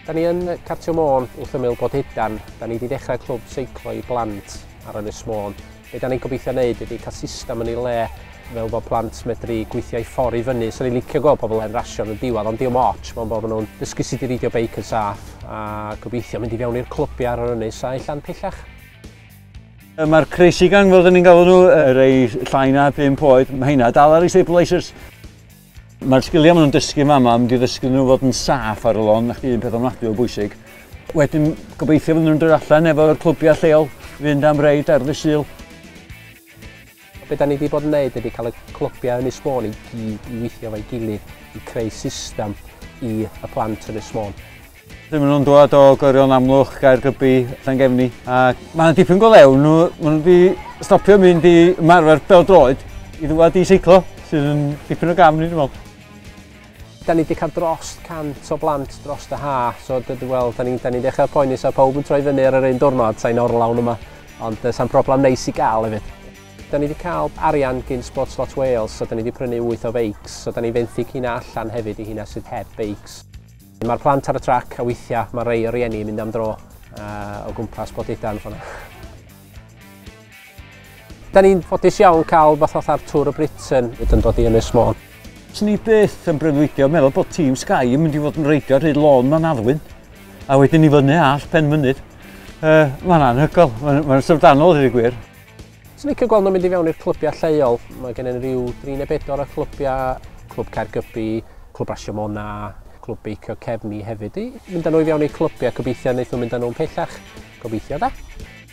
Da ni yn Cartio Môn wrth ymyl Bodedan, da ni wedi dechrau clwb seiclo i blant ar Ynys Môn. Be da ni'n gobeithio wneud ydy cael system yn ei le fel bod plant medru gweithio i ffordd i fyny. So ni'n licio gweld pobl yn rasio yn y diwedd, ond diolch ots, mae'n bod nhw'n dysgu sut i reidio beic yn saff a gobeithio mynd i fewn i'r clybiau ar yr ynys a allan pellach. Mae'r crazy gang fel dyn ni'n galw nhw, yr ei llai na 5 oed, mae hynna dal ar ei stabilisers. Mae'r sgiliau maen nhw'n dysgu yma, mae'n mynd i ddysgu nhw fod yn saff ar y lôn, na chdi un peth ofnadwy o bwysig. Wedyn, gobeithio fydden nhw'n dod allan efo'r clwbiau lleol, fynd am reid ar ddysil. Be da ni wedi bod yn wneud ydy cael y clybiau Ynys Môn i gyd i weithio efo'i gilydd i creu system i y plant Ynys Môn. Rydyn maen nhw'n dod o Gyrion Amlwch, Gaergybi, Llangefni a mae yna dipyn go lew. Nhw, maen nhw wedi stopio mynd i ymarfer bel droed i ddwad i seiclo sydd yn dipyn o gam ni dwi'n meddwl. 'Da ni 'di cael drost 100 o blant drost y ha', so dw- dw- wel, 'da ni'n 'da ni'n dechra poeni 'sa pawb yn troi fyny ar yr un diwrnod, sain orlawn yma, ond yy sa'n problem neis i gael hefyd. 'Da ni 'di cael arian gin Sport Slot Wales, so 'da ni 'di prynu wyth o feics, so 'da ni'n fenthyg hynna allan hefyd i hynna sydd heb feics. Ma'r plant ar y trac a weithia' ma' rei o rieni yn mynd am dro yy o gwmpas Borduddan ffor 'na. Da ni'n ffodus iawn cael rhywbeth fatha'r Tour of Britain hyd yn dod i Ynys Môn. Swn i byth yn breuddwydio meddwl bod tîm Sky yn mynd i fod yn reidio rhy lôn ma'n addwyn, a wedyn i fyny all pen mynydd. Uh, mae'n anhygol, mae'n ma syfrdanol hyd y gwir. Swn i'n gweld nhw'n mynd i fewn i'r clybiau lleol. Mae gen i'n rhyw 34 o clybiau, Clwb Caergybi, Clwb Rasio Mona, Clwb Beicio Cefni hefyd. I mynd â nhw i fewn i'r clybiau, gobeithio wnaeth nhw'n mynd â nhw'n pellach. Gobeithio da.